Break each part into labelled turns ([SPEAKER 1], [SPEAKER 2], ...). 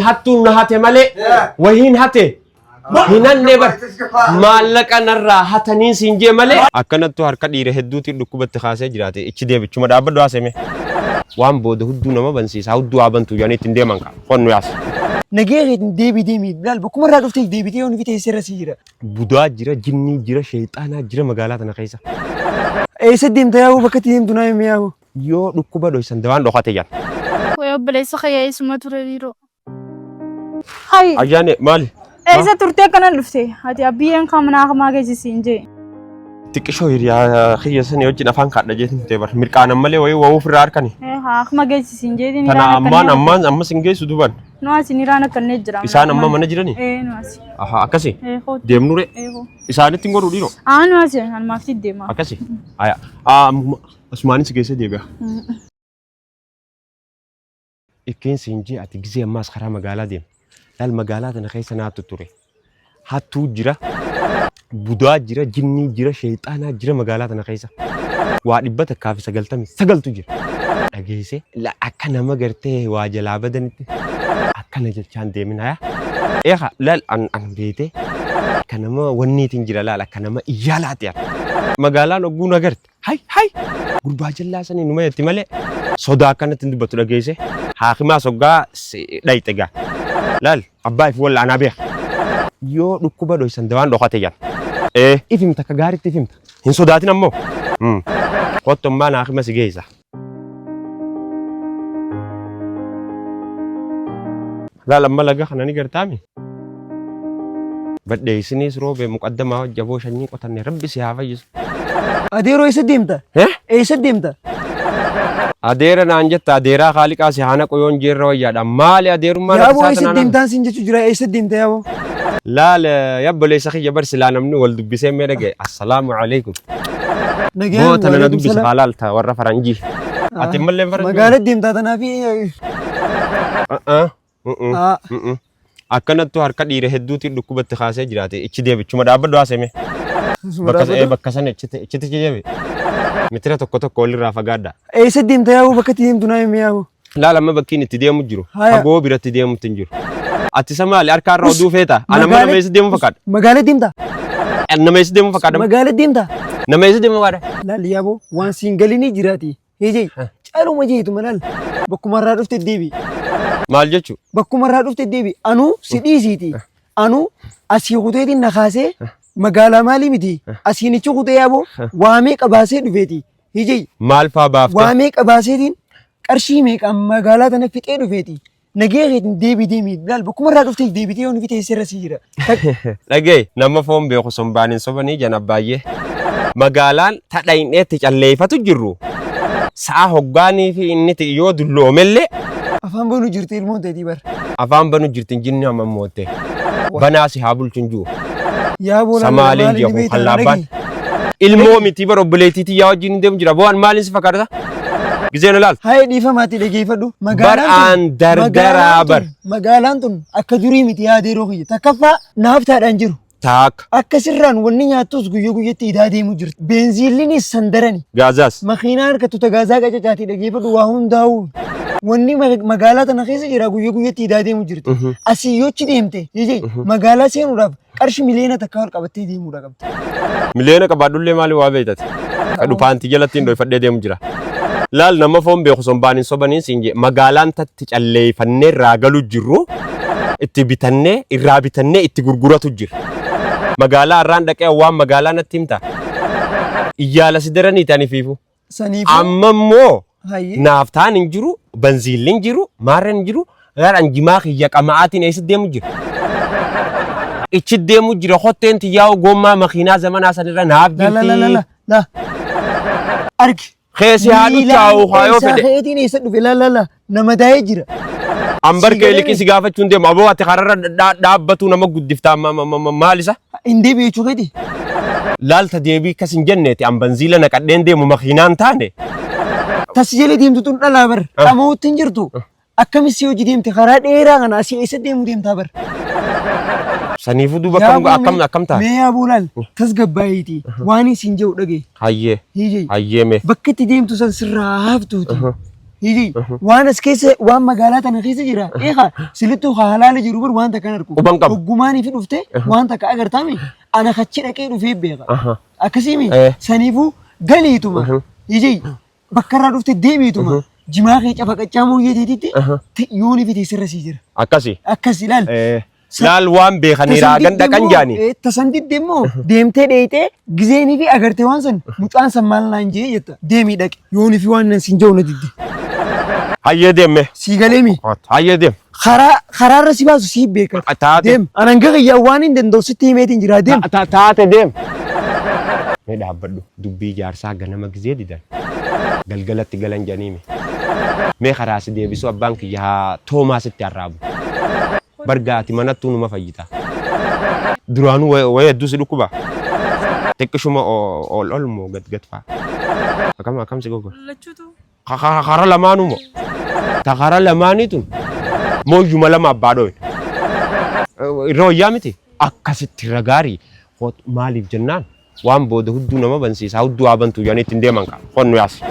[SPEAKER 1] hattuun na hate malee wahiin hate hin hannee bar maallaqa narraa hatanii siin jee malee akkanattu harka dhiira hedduutiin dhukkubatti kaasee jiraate ichi deebichuma dhaabbadhu haaseme waan booda hudduu nama bansiisa hudduu haa bantu jedhanii ittiin deeman kaa qonnu yaas Nagee keetiin
[SPEAKER 2] deebii deemii bilaal bakkuma irraa dhuftee deebitee yoon fitee seera sii jira. budaa jira
[SPEAKER 1] jinnii jira sheexaanaa jira magaalaa tana keessa Eessa
[SPEAKER 2] deemta yaa'u bakka itti deemtu naa himi yaa'u. Yoo dhukkuba
[SPEAKER 1] dhoysan dawaan dhokate jan. Way obboleessa
[SPEAKER 3] kiyya isuma ture biiroo.
[SPEAKER 4] Hay! Ayyaane maali?
[SPEAKER 1] Eessa turtee
[SPEAKER 4] kana dhufte? Ati abbiyyeen kan manaa kamaa geessisi hin jee. Xiqqishoo
[SPEAKER 1] hiriyaa kiyya sanii wajjin afaan kaadha jeetiin kutee bar. Mirqaanan malee wayii wawuu ofirraa harkani. Akkuma geessisi
[SPEAKER 4] hin jeetiin Tana irraan ammaan akkannee. ammaan
[SPEAKER 1] ammas hin geessu duban. Nu asiin irraan akkannee
[SPEAKER 4] jira. Isaan amma mana jirani? Ee
[SPEAKER 1] nu asi. Aha
[SPEAKER 4] akkasi. Ee kooti.
[SPEAKER 1] Deemnure. Ee
[SPEAKER 4] koo.
[SPEAKER 1] Isaanitti
[SPEAKER 4] hin godhu dhiiroo.
[SPEAKER 1] Aa nu asi. Almaaf
[SPEAKER 4] si deema. Akkasi.
[SPEAKER 1] Aya. Aa Asumaanii si geessee deebi'a. Ittiin siin jee ati gizee ammaas karaa magaalaa deema. Laal magaalaa tana keessa naatu ture. Hattuu jira, budaa jira, jinnii jira, sheexaanaa jira magaalaa tana keessa. Waa dhibba takkaa fi sagaltamii sagaltu jira. Dhageessee la akka nama gartee waa jalaa badanitti akkana jechaan deemina yaa. Eegaa laal an an beetee akka nama wanniitiin jira laal akka nama iyyaalaati yaa. Magaalaan ogguu na garte Hay hay! Gurbaa jallaa sanii numa jetti malee sodaa akkanatti hin dubbattu dhageesse. Haakimaa soggaa si dhayxe gaa. Laal abbaa if walla anaa beeka. Yoo dhukkuba dhoysan dawaan dhokate jan. Ee if himta akka gaaritti if himta. Hin sodaatin ammoo. Mm. Kottu ammaan haakima si geessa. Laal amma laga kana ni gartaami? Badhee isiniis roobee muqaddamaa hojja aboo shanyii qotanne rabbi si haa fayyisu. Adeeroo
[SPEAKER 2] eessa deemta? Eh? Eessa deemta?
[SPEAKER 1] Adeera naan jetta adeeraa kaaliqaa si haa naqu yoon jeerra wayyaadha maali adeerummaa Yaa boo eessa deemtaan siin
[SPEAKER 2] jechuu jira eessa deemta yaa boo? Laal
[SPEAKER 1] yabboleessa kiyya bar silaa namni wal dubbisee mee dhagaye assalaamu alaikum. Nagaan Boo tana na waalaikum dubbisa salaam. haa laalta warra faranjii. Ati ammallee faranjii. Magaala deemtaa tanaa fi
[SPEAKER 2] A'aa. Mm-mm. Aa. Mm-mm.
[SPEAKER 1] Akkanattu harka dhiira hedduutiin dhukkubatti kaasee jiraate ichi deebichuma dhaabbadhu haaseme. Bakka sa- ee, bakka sana ichiti ichiti ichi deebi. Mitira tokko tokko walirraa fagaadha. eessa deemta yaa'u
[SPEAKER 2] bakka itti deemtu naa himi yaa'u. Laal amma bakki inni itti
[SPEAKER 1] deemu jiru. Haya. Fagoo biratti deemutti hin jiru. Ati isa maali harkaa irra oduu feeta? Ana amma nama eessa deemu fakkaadha? Magaalaa deemta.
[SPEAKER 2] Ani Nama eessa
[SPEAKER 1] deemu fakkaadha? Magaalaa deemta.
[SPEAKER 2] Nama eessa deemu fakkaadha?
[SPEAKER 1] Laal yaaboo waan
[SPEAKER 2] siin galinii jiraati. Hijii caaluma jeetuma laal. Bakkuma irraa dhufte deebi. Maal jechuu?
[SPEAKER 1] Bakkuma irraa dhufte deebi.
[SPEAKER 2] Anuu si dhiisiiti. Anuu asii kuteetiin na kaasee magaalaa maalii miti. Asiinichi kutee yaaboo waamee qabaasee dhufeeti. Hijii. Maal faa baafte? Waa
[SPEAKER 1] meeqa baaseetiin
[SPEAKER 2] qarshii meeqaan magaalaa tana fixee dhufeeti. Nagee keetiin deebii deemii laal bakkuma irraa dhuftee deebitee yoo nufi teessee irra sii jira. Dhagee
[SPEAKER 1] nama foon beeku sombaan hin sobanii jan abbaayyee. Magaalaan tadha hin dheetti calleeffatu jirru. Sa'a hoggaanii fi inni ti'i yoo dulloomellee Afaan boonu
[SPEAKER 2] jirti ilmoon ta'etii bar. afaan banu jirtin
[SPEAKER 1] jinni hamma mootte. Banaa si haa bulchin juu. Yaa boolaa
[SPEAKER 2] Samaaleen maal inni jedhu beektaa?
[SPEAKER 1] kan laabbaan. Dhagee. Ilmoo miti bara obboleettii tiyyaa wajjin hin deemu jira. Boo an maaliin si fakkaata? Gizee na laal. Haye dhiifamaati
[SPEAKER 2] dhageeffadhu. Bar aan
[SPEAKER 1] dardaraa bar. Magaalaan tun
[SPEAKER 2] akka durii miti yaadee yeroo kiyya. Takkaffaa naaf taadhaan jiru. Taakka. Akka
[SPEAKER 1] sirraan wanni
[SPEAKER 2] nyaattus guyya guyyatti idaa deemu jirti. Beenziillinis sandarani. Gaazaas. Makiinaa
[SPEAKER 1] harkattu ta
[SPEAKER 2] gaazaa qacacaati dhageeffadhu waa hundaa'u. Wanni ma- magaalaa tana keessa jira guyya guyyatti idaa deemu jirti. Asii yochi deemte jijee magaalaa seenuudhaaf qarshi miliyoona takka ol qabattee deemuudha qabdi. Miliyoona qabaadhullee
[SPEAKER 1] maali waa beektati? Kadhu paantii jalatti hin dhoofadhee deemu jira. Laal nama foon beeku sombaan hin sobanii siin jee magaalaan tatti calleeffannee irraa galu jirru itti bitannee irraa bitannee itti gurguratu jira. Magaalaa irraan dhaqee waan magaalaa natti himta. Iyyaala si daraniiti ani fiifu. Saniifuu. Amma immoo Hayyee. naaftaan hin jiru, banziilli hin jiru, maarreen hin jiru, gaadhaan jimaa kiyya qama'aatiin eessa deemu jira? Ichi deemu jira kotteen tiyyaa gommaa makiinaa zamanaa sanirra naaf La la la la la jirti. la.
[SPEAKER 2] Argi. Keessi haa
[SPEAKER 1] duchaa'u haa yoo fedhe. Keessaa keetiin eessa dhufe la la
[SPEAKER 2] la. na madaa'ee jira. An bar kee
[SPEAKER 1] liqii si gaafachuu hin deemu. Aboo ati kararra dha- dhaabbatuu nama guddiftaa ma- ma- ma- ma- maal isa? Hin deebi'e jechuu keeti.
[SPEAKER 2] Laalta
[SPEAKER 1] deebii akkas hin jenneeti. An banziila naqadheen deemu makiinaan taane. Tasi
[SPEAKER 2] jala deemtu tun dhalaa bar. Ah. Dhama'uutti hin jirtu. Akkamis si hojii deemte karaa dheeraa kana asii eessa deemu deemtaa bar.
[SPEAKER 1] Saniifuu duuba akkam akkam akkam taate? Mee yaa buulaan
[SPEAKER 2] tasgabbaa'iiti. Waan isin jedhu dhagaye. Hayyee Hiijee. hayyee mee. Bakka itti deemtu san sirraa haaftuuti. Aha. Hihi, waan as keessa waan magaalaa tana keessa jira. Eegaa silittuu haa halaali jiru bar waan takka hin argu. Quban qabu. Oggumaanii fi dhufte waan takka agartaami ana kachi dhaqee dhufee beeka. Aha. Akkasiimi
[SPEAKER 1] Eh.
[SPEAKER 2] saniifuu galiituma. Mhm. Hihi, bakka irraa dhufte deebiituma. Jimaa kee cafaqachaa mooyyee teetitti Aha. yoonii fi teessirra sii jira. Akkasi. Akkas
[SPEAKER 1] ilaal. Eh.
[SPEAKER 2] Laal waan
[SPEAKER 1] beekanii raagan dhaqan jaani. Tasan didde immoo
[SPEAKER 2] deemtee dheeyxee gizeenii fi agartee waan san mucaan san maal naan jee jetta deemii dhaqe yoonii fi waan nan siin ja'u na didde. Hayyee
[SPEAKER 1] deemme. Sii galeemi.
[SPEAKER 2] Hayyee deem.
[SPEAKER 1] Karaa karaarra si
[SPEAKER 2] baasu sii beekata. Taate. Deem anan
[SPEAKER 1] gahayyaa
[SPEAKER 2] waan hin danda'u sitti himeetiin jira deem. Taate deem.
[SPEAKER 1] Mee dhaabbadhu. Dubbii jaarsaa ganama gizee didan galgalatti galan jedhaniimi. Mee karaa si deebisu abbaan kiyya haa toomaa sitti arraabu. Bar gaa ati manattuu numa fayyita. Duraanuu wayii hedduu si dhukkuba? Xiqqishuma ol ol moo gad gad faa? Akam akam si gogora? Lachutu Ka- ka-
[SPEAKER 4] Kara
[SPEAKER 1] lamaanuma. Ta kara lamaanii tun mooyyuma lama abbaa dhooye. Irra wayyaa miti akkasitti irra gaarii Hot- maaliif jennaan waan booda hudduu nama bansiisaa hudduu haa bantuu jedhanii ittiin deeman qaba. Qonnu yaasi.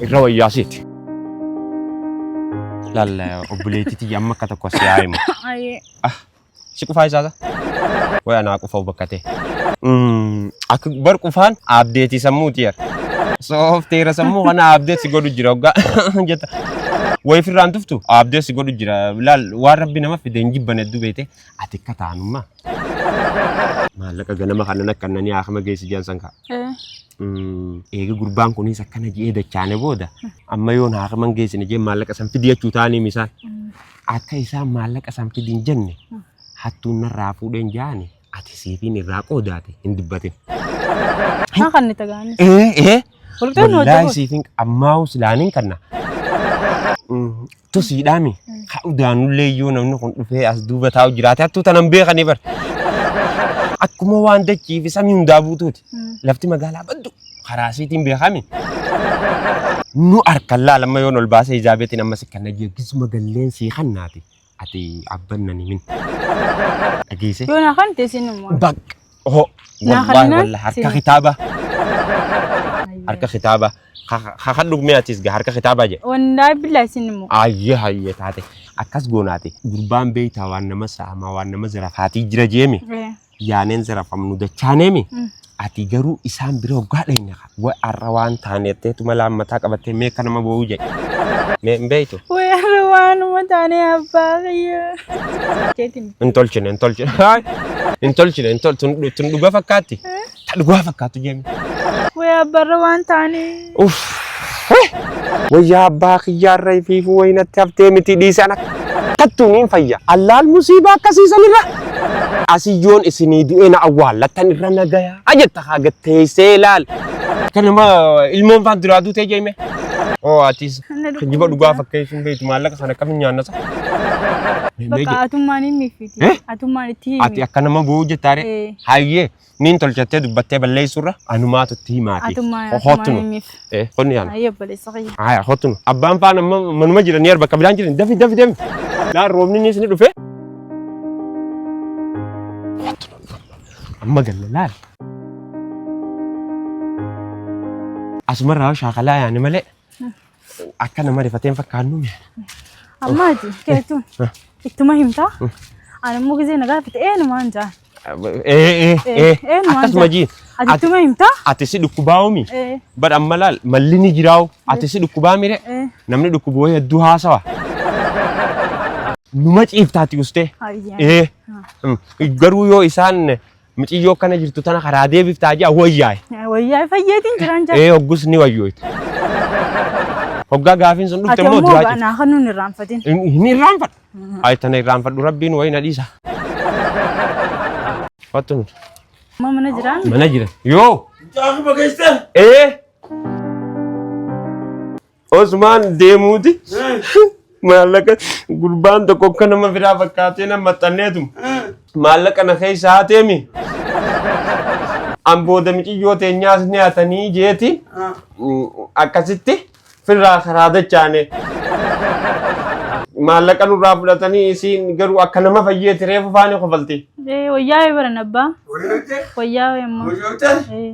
[SPEAKER 1] Irra wayyaa siiti. Laalla obboleettii tiyya amma akka tokko si haa himu. Ayee. Si qufaa isaasa. Waya naa qufau bakka tee. Mm, Akka bar qufaan abdeetii sammuuti yar. Soofteera sammuu kana abdeet si godhu jira hoggaa jetta. Wayi firraan tuftu abdeet si godhu jira. Laal waan rabbi nama fide hin jibban hedduu beete. Ati akka taanummaa. Maallaqa ganama kanan akka nani haakama geessi jiran san kaa. Eh, Mm, eega gurbaan kunis akkana ji'ee dachaane booda amma yoon haakaman geessine jee maallaqa san fidi jechuu taanii misaan Akka isaan maallaqa san fidi hin jenne hattuun narraa fuudheen jaani ati siifiin irraa qoodaate hin dubbatin.
[SPEAKER 4] Haa kan itti gaanis. Ee ee Walqixxee nu
[SPEAKER 1] wallaahi hojjetu. siifiin ammaa'uu silaaniin kanna. Tosiidhaami. Haa udaanullee yoo namni kun dhufee as duuba taa'u jiraate hattuu tanan beekanii bar. Akkuma waan dachii fi samii hundaa buutuuti. Lafti magaalaa baddu karaa asiitiin beekami. Nu harkan laalamma yoon ol baasee ijaa beetiin amma si kan dhagee gisuma galleen sii kannaati. Ati abban nan himin. Dhageesse. Yoo na kan teessin
[SPEAKER 4] immoo. Bak. Oho.
[SPEAKER 1] Naa Wallahi kannaan wallahi harka sini. kitaaba. Harka kitaaba. Kakan dhugmee atis gaa harka kitaabaa jedhe. Wandaa billaa isin
[SPEAKER 4] immoo. Ayyee hayyee taate.
[SPEAKER 1] Akkas goonaati. Gurbaan beektaa waan nama saamaa waan nama zirafaatii jira jeemi. yaaneen zirafamnu dachaaneemi. Ati garuu isaan bira hoggaa dhayne wa arra waan taane jetteetu mala ammataa qabattee mee akka nama boo'uu jedhe. Mee hin beektu? Wee arra waanuma
[SPEAKER 4] taane abbaa kiyya. Jeetiin
[SPEAKER 1] Hin tolchine hin tolchine. Haay! Hin tolchine hin tolchine. Tun dhuga fakkaatti. Ta dhugaa fakkaattu jami. Wee abbarra
[SPEAKER 4] waan taanii. Uff.
[SPEAKER 1] Wayyaa abbaa kiyyaarra ifiifuu wayinatti haftee miti dhiisan akkattuun hin fayya. Allaal musiibaa akkasiisan irra. Asiyyoon isinii du'ee na awwaallattan irra nagaya. Ajetta haa gatteessee laal. Kanuma ilmoon faan duraa duutee jeemee. Oo atis kijiba dhugaa fakkeessuun beektu maallaqa sana akkamiin nyaanna sa?
[SPEAKER 4] Bakka atummaan hin miffiti. Eh? Atummaan itti himi. Ati akka nama boo'u jettaare.
[SPEAKER 1] Eh. Hayyee. Niin tolchattee dubbattee balleessuurra anumaatu itti himaati. Atummaa Ho- atummaa Hottunu.
[SPEAKER 4] himiif. Eh, Honni yaala. Ayyoo
[SPEAKER 1] obboleessa kiyya. Haya,
[SPEAKER 4] hottunu. Abbaan
[SPEAKER 1] faan amma manuma jiran ni arba kabilaan jiran dafi dafi deemi. Laa roobni ni isni dhufe. Hottunu. Amma galla laal. Asumarraa shaakalaa yaani malee Akka nama rifatee hin fakkaannu mee. Amma ati
[SPEAKER 4] keetuun ittuma himtaa. Ani immoo gisee na gaafate eenyumaan jaan. Ee ee ee Eenyumaan
[SPEAKER 1] akkasuma jaan. jii. Ati ittuma himtaa.
[SPEAKER 4] Ati si dhukkubaa'umi.
[SPEAKER 1] Ee Bar amma laal malli ni jiraa'u. Ati si dhukkubaa mire. ee Namni dhukkubu wayii hedduu haasawa. Numa ciiftaati ustee. hayyee. Ee. Mm. Garuu yoo isaan Miciyyoo akkana jirtu tana karaa deebiftaa jaa wayyaa'e. Wayyaa fayyeetiin
[SPEAKER 4] jiraan jaa. Ee hoggus ni wayyooyte.
[SPEAKER 1] Hoggaa gaafiin sun dhufte Ati immoo ammoo duraa jirti. naa kan nuun
[SPEAKER 4] irraanfatin. Hin irraanfadhu.
[SPEAKER 1] Ayi tana irraanfadhu rabbiin wayi na dhiisa. Wattu nuti. Amma mana jiraan.
[SPEAKER 4] Mana jira. Yoo.
[SPEAKER 1] Jaakuma keessan.
[SPEAKER 2] Ee.
[SPEAKER 1] Osmaan deemuuti maallaqa gurbaan tokko akka nama biraa fakkaatee nama maxxanneetu maallaqa na keessa haateemi. An booda miciyyoo teenyaas ni hatanii jeeti akkasitti firraa karaa dachaane. Maallaqa nurraa fudhatanii isiin garuu akka nama fayyeeti reefu faani kofalti. Eh, wayyaa barana
[SPEAKER 4] abbaa. Wayyaa
[SPEAKER 1] wayyaa immoo. Eh.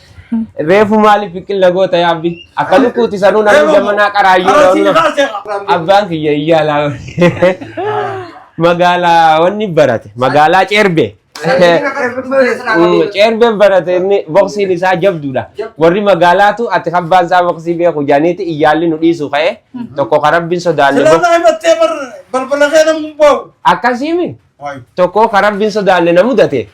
[SPEAKER 1] Reefu maaliif biqilna goota yaa abdi? Akka lukkuuti sanuu namni jamanaa qaraayyuu Arasii ta'uu kaasee qaba. abbaan kiyya iyyaalaa magaalaa wanni barate magaalaa ceerbe ceerbeen barate inni boksiin isaa jabduudha warri magaalaatu ati abbaan isaa boksii beeku jaaniiti iyyaalli nu dhiisu ka'e tokko ka rabbiin sodaanne Silaa boks- naa himattee bar
[SPEAKER 5] balbala
[SPEAKER 1] kee
[SPEAKER 5] namni bahu.
[SPEAKER 1] akkasiimi
[SPEAKER 5] Waayuu. tokko
[SPEAKER 1] ka rabbiin sodaanne
[SPEAKER 5] na
[SPEAKER 1] mudate